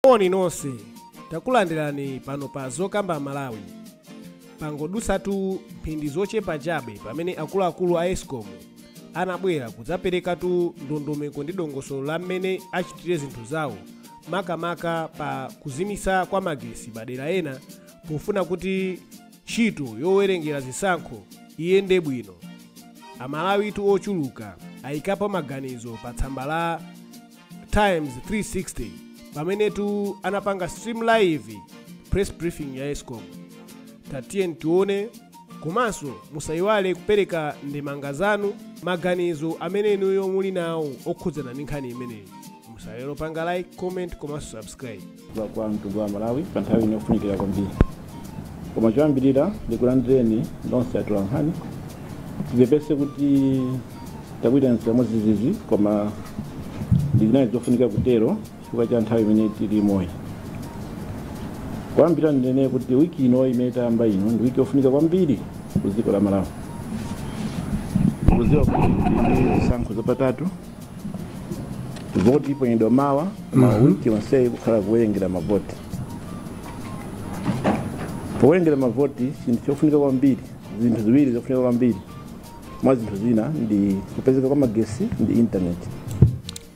Moni nonse, takulandirani pano pa Zokamba Malawi. Pangodutsatu mphindi zochepa chabe pamene akuluakulu a escom anabwera kudzaperekatu ndondomeko ndi dongosolo la mmene achitire zinthu zawo makamaka pa kuzimitsa kwa magesi madera ena pofuna kuti ntchito yowerengera zisankho iyende bwino. Amalawitu ochuluka ayikapo maganizo pa tsamba la times 360 pamenetu anapanga stream live press briefing ya escom tatiyeni tione komanso musayiwale kupereka ndemanga zanu maganizo amene inuyo muli nawo okhudzana ndi nkhani imeneyi musaiwale kupanga like comment komanso subscribe kwa mtundu wa malawi pa nthawi ino yofunikira kwambiri koma choyambirira ndikulandireni nonse atolankhani tipepese kuti takuitanani modzidzidzi koma zinali zofunika kutero chifukwa cha nthawi imene tilimoyi poyambirira ndinene kuti wiki ino imene tayamba ino ndi wiki yofunika kwambiri ku dziko la malawi mukudziwa kuti ndi zisankho zapatatu voti iponyedwa mawa ndiye wiki yonseyi kukhala kuwerengera mavoti powerengera mavoti chinthu chofunika kwambiri zinthu ziwiri zofunika kwambiri mwa zinthu zina ndi kupezeka kwa magesi ndi intaneti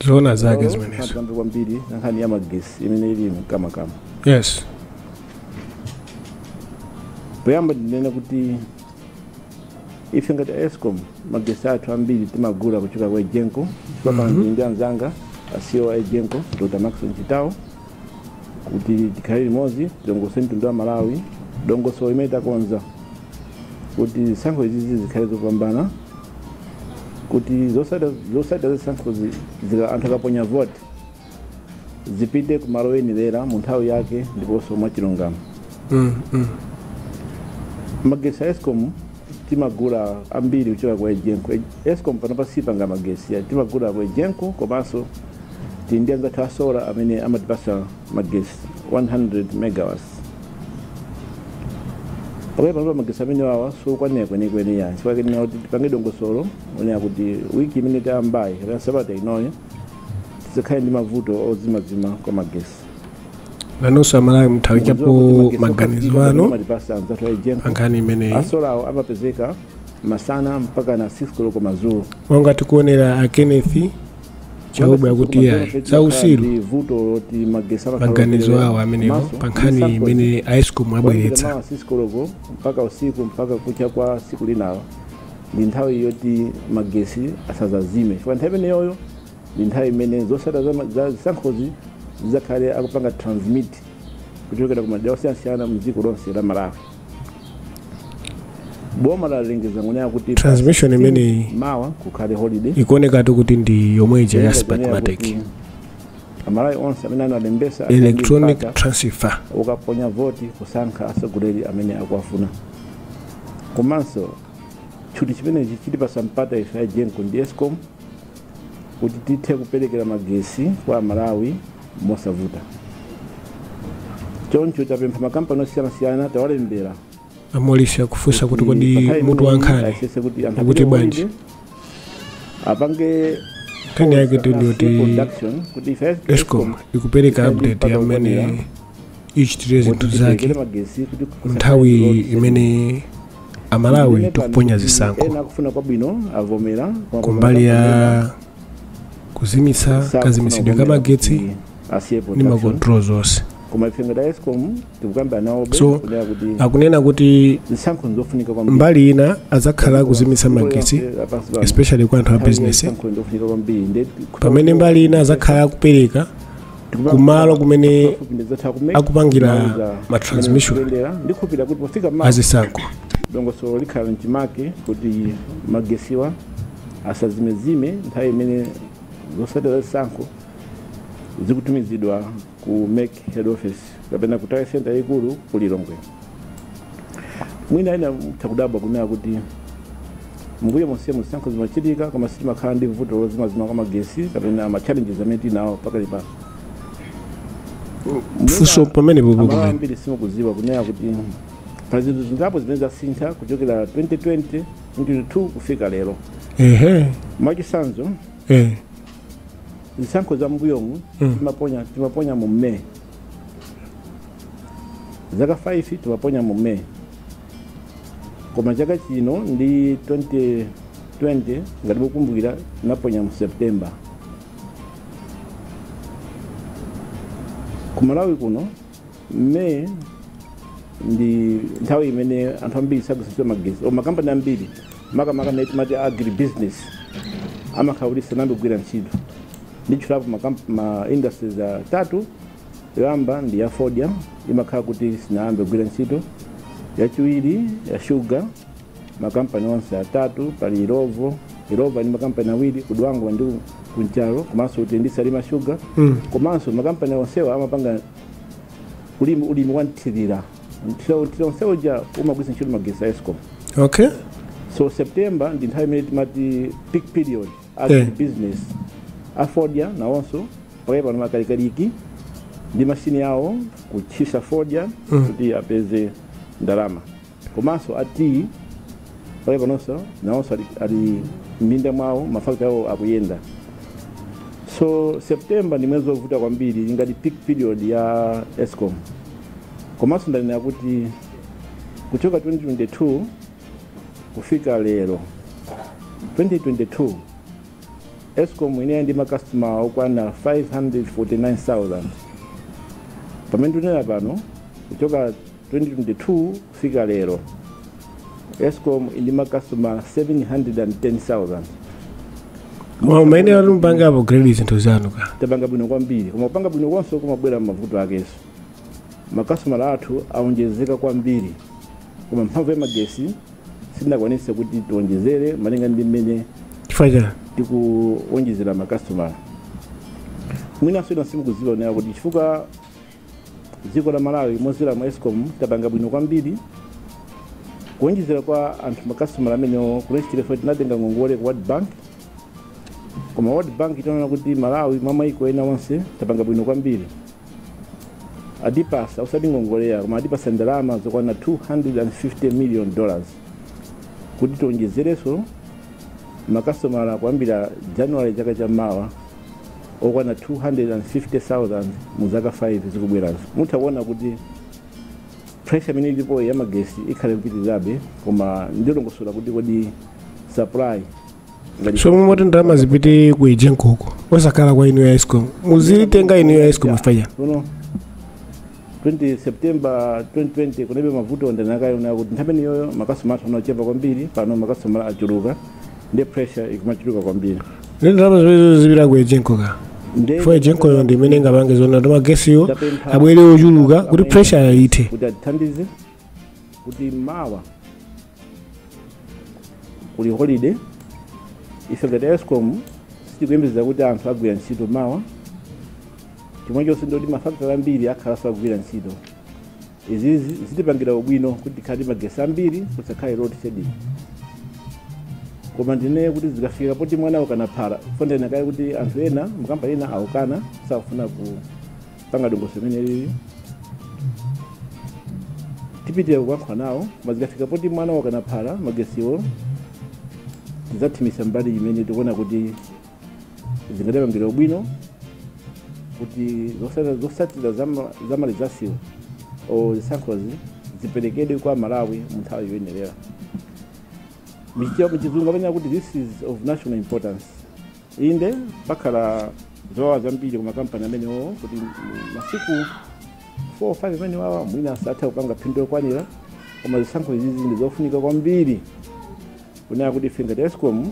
zoona zake zimenezo tikambe kwambiri nkhani ya magesi imene ili mkamwamkamwa yes poyamba ndinene kuti ife ngati a escom magesi athu ambiri timagula kuchoka kwa egenco chifukwa pano ndili ndi anzanga a ceo a egenco dr maxon chitawo kuti tikhale limodzi tilongosolere mtundu wa malawi dongosolo limene takonza kuti zisankho izizi zikhale zopambana kuti zosada zosada zisankhozi zika anthu akaponya voti zipite ku malo oyenerera mu nthawi yake ndiponso mwachilungamo Mm, mm. magetsi a escom timagula ambiri kuchoka kwa egenco escom panopa sipanga magetsi ya timagula kwa egenco komanso tili ndi anzathu a sola amene amatipasa magetsi 100 megawatts pamene panopa magetsi amenewawa sokwanira kwenikweni nchifukwa chake tanena kuti tipange dongosolo lonena kuti wiki imene tayambayi kapena sabata inoyo tisakhale ndi mavuto ozimazima kwa magesi nanonso amalawi mutha kuikapo maganizo anu amatipasa anzathu a egenco pankhani imeneyi asolawo amapezeka masana mpaka na 6 koloko madzulo monga tikuonera a kenneth chauba akuti ayi za usiru Ndi vuto loti magesi amakhala maganizo operera. awo amenewo Maso, pa nkhani imene a escom Kuyambira abweretsa mawa 6 koloko mpaka usiku mpaka kucha kwa tsiku linalo ndi nthawi yoti magesi asazazime chifukwa nthawi imeneyoyo ndi nthawi imene zosatira za ma- za zisankhozi zidzakhale akupanga transmit kuchokera ku madera osiyanasiyana mdziko lonse la malawi boma lalengeza kunena kuti Transmission imeneyi mawa kukhale holiday ikuonekatu kuti ndi yomwe ija ya smartmatic amalawi onse amene analembesa electronic transfer ukaponya voti kusankha atsogoleri amene akuwafuna komanso tchuti chimenechi chitipasa mpata ife a egenco ndi escom kuti tithe kuperekera magesi kwa amalawi mosavuta choncho tapempha makampani osiyanasiyana tawalembera amolisi akufunsa kuti kodi mutu wa nkhani ukuti bwanji apange Nkhani yaketu ndiyoti production kuti ife escom ikupereka update ya mmene ichitire zinthu zake nthawi imene amalawi tikuponya zisankho ena akufuna kwabwino avomera kumbali ya kuzimitsa kazimitsidwe ka magetsi ndi ma control zonse koma ife ngati escom so akunena kuti mbali ina adzakhala akuzimitsa magetsi especially kwa anthu a business pamene mbali ina adzakhala akupereka kumalo kumene akupangira ma transmission azisankho dongosolo likhala mchimake kuti magesiwa asazimezime nthawi imene zosatira zisankho zikutumizidwa ku mec head office kapena ku tally center yayikulu ku lilongwe mwina ena mutha kudabwa kunena kuti mbuyo monsemu zisankho zimachitika koma sitimakhala ndi vuto lozimazima kwa magesi kapena ma challenges amene tinawo pakali pano funso pamenepo amalawi pakumene ambiri simukuziwa kunena kuti pali zinthu zingapo zimene zasintha kuchokera 2020 22 kufika lero ehe mwachisanzo eh zisankho za mbuyomu Mm. timaponya timaponya mu may zaka 5 timaponya mu may koma chaka chino ndi 2020 ngati mukumbukira tinaponya mu september ku malawi kuno May ndi nthawi imene anthu ambiri sagwiritsa ntchito magetsi o makampani ambiri makamaka amene timati agri business amakhala kuti sanayambe kugwira ntchito nditchulapo makamp- ma industries atatu yoyamba ndi ya fodya imakhala kuti sinayambe kugwira ntchito yachiwiri ya shuga makampani onse atatu pali illovo illovo ndi makampani awiri ku dwangwa ndi ku nchalo komanso kuti ndi salima shuga Mm. komanso makampani onsewa amapanga ulimi ulimi wanthirira nthira nthira onsewa amagwiritsa ntchito magesi a escom okay so september ndi nthawi imene timati peak period agri Eh. business afodya nawonso pakali pano ali kalikiliki ndi mashini awo kutchisa fodya kuti apeze ndalama komanso a tea pakali panonso nawonso ali, ali m'minda mwawo mafakitare awo akuyenda so september ndi mwezi wovuta kwambiri ngati peak period ya escom komanso ndanena kuti kuchoka 2022 kufika lero 2022 escom inali ndi makastoma okwana 549000 pamene tunena pano kuchoka 2022 kufika lero, escom ili ndi makasitomala 710,000. Koma umayenera kuti mupange upgrade zinthu zanu ka tapanga bwino kwambiri koma kupanga bwino konse kumabwera ndi mavuto akenso makasitomala athu awonjezeka kwambiri koma mphamvu ya magesi sitinakwanise kuti tiwonjezere malinga ndi mmene chifukwa chani tikuwonjezera makasitomala mwinanso inu simukuziwa nayo kuti chifukwa Dziko la Malawi mozera mu escom tapanga bwino kwambiri kuonjezera kwa anthu makasitomala amenewa kunachitika chifukwa choti tinatenga ngongole ku world bank koma world bank itaona kuti malawi mwa maiko ena onse tapanga bwino kwambiri atipatsa osati ngongole ayi koma atipatsa ndalama zokwana 250 million dollars kuti tionjezerenso makasitomala kuyambira january chaka cha mawa okwana 250,000 mu zaka 5 zikubwerazo mutha kuona kuti pressure imene ilipo ya magesi ikhala ikupitirirabe koma ndilongosola kuti kodi supply ngati- so bwanji ndalama zipite ku egenco-ko osakhala kwa inu ya escom muzitenga inu ya escom chifukwa chani Sono 20 september 2020 kunalibe mavuto ndanena kale kuti nthawi imeneyoyo makasitoma athu anali ochepa kwambiri pano makasitoma achuluka nde pressure ikumachuluka kwambiri nde ndalama zimenezo zipite ku egenco ka Nde- chifukwa egenco-yo ndi imene ingapange zonati magesiwo abwere ochuluka kuti pressure ithe kuti atithandize kuti mawa kuli holiday ife ngati escom sitikuyembekeza kuti anthu akagwira ntchito mawa chomwechonso ndoti mafakitale ambiri akhala asakugwira ntchito izi zi- zitipangira ubwino kuti tikhale ndi magesi ambiri kusakhale load shedding koma ndinene kuti zikafika poti mwana wakana phala poti ndanena kale kuti anthu ena makampani ena akukana sakufuna ku panga dongosolo limene lili tipitirira kulankhula nawo koma zikafika poti mwina wakanaphala magesiwo tizathimisa mbali imene tikuona kuti zingatipangire ubwino kuti zosata- zosatira zama- za ma resultswo or zisankhozi ziperekedwe kwa amalawi mu nthawi yoyenerera m'chizungu amanena kuti this is of national importance Inde, pakhala zowawa zambiri ku makampani amenewo kuti masiku 4 or 5 amenewawa mwina satha kupanga phindu lokwanira, koma zisankho izizi ndi zofunika kwambiri kunena kuti ife ngati escom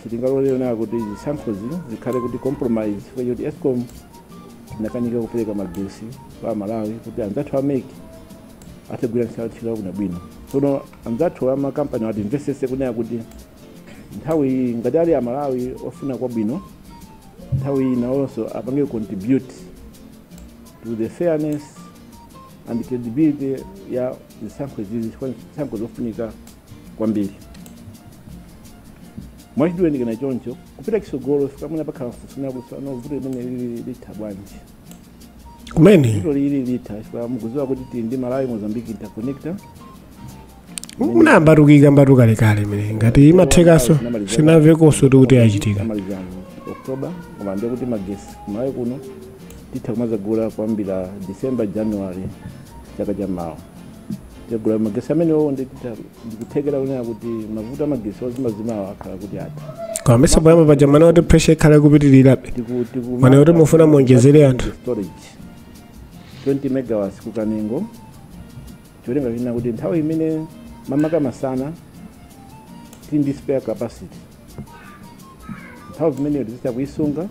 sitingalole kunena kuti zisankhozi zikhale kuti compromise chifukwa choti escom inakanika kupereka magesi kwa amalawi kuti anzathu a MEC atigwirire ntchito yabwino tsono anzathu amakampani atimvesese kunena kuti nthawi iyi ngati ali amalawi ofuna kwabwino nthawi iyi nawonso apange contribute to the fairness and credibility ya zisankho izizi chifukwa ndi zisankho zofunika kwambiri mwachidule ndinganene choncho kupita kusogolo chifukwa mwina pakhala funso kuti ano vuto limene lili litha bwanji kumene vuto lili litha chifukwa mukudziwa kuti tili ndi malawi mozambique interconnector munayambatu kuyikambatu kalekale imene ngati imathekaso sinavekoso tikuti yachitika maliza october koma ndiye kuti magesi kumalawi kuno titha kumazagula kuyambira december january chaka cha mawa tikagula magesi amenewo ndikutha ndikuthekera kunena kuti mavuto amagesi ozimazimawa akhala kuti atha kwambisa poyamba paja mwanena kuti pressure ikhala ikupitirirabe Tiku- tiku- mwanena zoti mufuna muonjezere anthu. storage 20 megawatts ku kanengo cholinga chonena kuti nthawi imene makamaka masana tili ndi spare capacity nthawi zimeneyo tizitha kuyisunga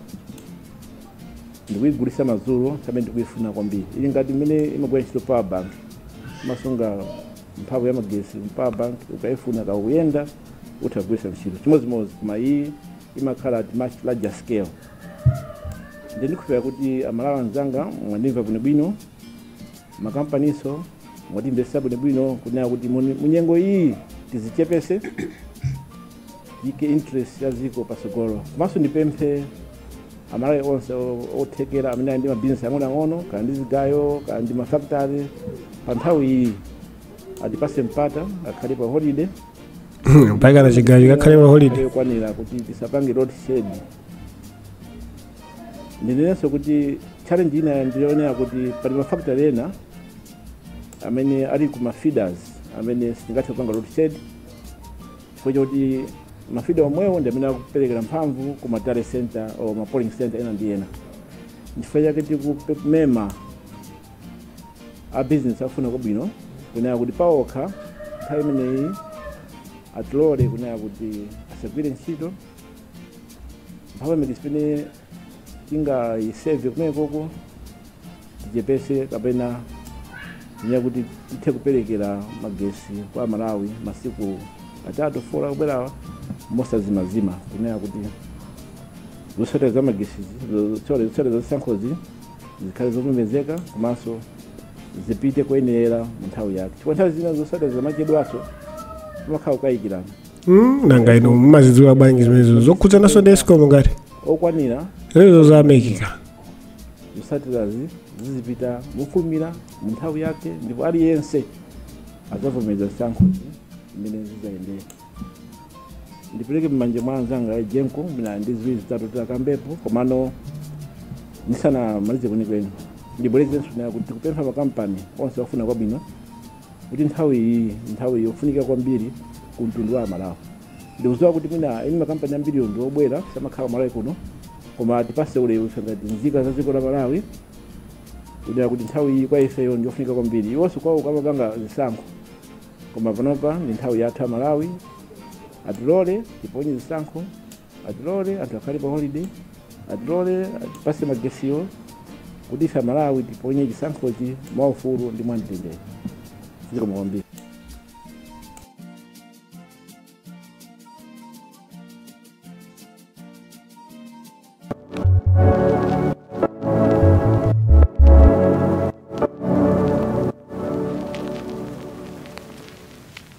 ndikuyigulisa madzulo pamene tikuyifuna kwambiri ili ngati mmene imagwira ntchito power bank imasunga mphamvu ya magesi power bank ukayifuna kaya ukuyenda utha kugwirisa ntchito chimodzimodzi koma iyi imakhala at much larger scale ndikukhulupirira kuti amalawi anzanga mwandimva bwinobwino makampaninso mwatimvesa bwinobwino kunena kuti muni- munyengo iyi tizichepese tiike interest ya ziko pasogolo komanso ndipemphe amalawi onse o- othekera amene ali ndi mabizinesi ang'onoang'ono kaya ndi zigayo kaya ndi mafakitare pa nthawi iyi atipase mpata akhale pa holiday mpakana chigayo chikakhale pa holiday yokwanira kuti tisapange load shed ndinenenso kuti challenge ina ndi yonena kuti pali mafactory ena amene ali ku mafeeders amene sitingathe kupanga load shed chifukwa choti mafida omwewo ndi amene akuperekera mphamvu ku ma tally center or ma polling center ena ndi ena chifukwa chake tikumema a business afuna kwabwino kunena kuti paokha nthawi imeneyi atilole kunena kuti asagwire ntchito mphamvu ya magetsi imene tingayiseve kumenekoko tichepese kapena kunena kuti tithe kuperekera magetsi kwa amalawi masiku atatu fola kubwerawa mosazimazima kunena kuti zotsatira za magetsi zotsatira za zisankhozi zikhale zopemezeka komanso zipite kuyenera mu nthawi yake chifukwa nthawi zina zotsatira zikamachedwaso pamakhala kukayikirana Mm, monga inu mumazidziwa bwanji zimenezo zokhudzananso ndi escom ngati okwanira zimenezo zatheka zotsatirazi zizipita mofulumira mu nthawi yake ndipo aliyense adzavomereza zisankho zimene zidzayendera ndipereke m'manja mwa anzanga a Egenco mwina ali ndi ziwiri zitatu atakambepo komano ndisanamalize kwenikweni ndibwerezenso kunena kuti tikupempha makampani onse ofuna kwabwino kuti nthawi iyi nthawi yofunika kwambiri ku mtundu wa amalawi ndikuziwa kuti mwina eni makampani ambiriwo ndi obwera samakhala malawi kuno koma atipase ulemu ife ngati nzika za dziko la malawi kunena kuti nthawi iyi kwa ifeyo ndi yofunika kwambiri iwonso kwawoko amapanga zisankho koma panopa ndi nthawi yathu amalawi atilole tiponye zisankho atilole anthu akhale pa holiday atilole atipase magetsiwo kuti ife amalawi tiponye chisankhochi mwaufulu ndi mwamtendere zikomo kwambiri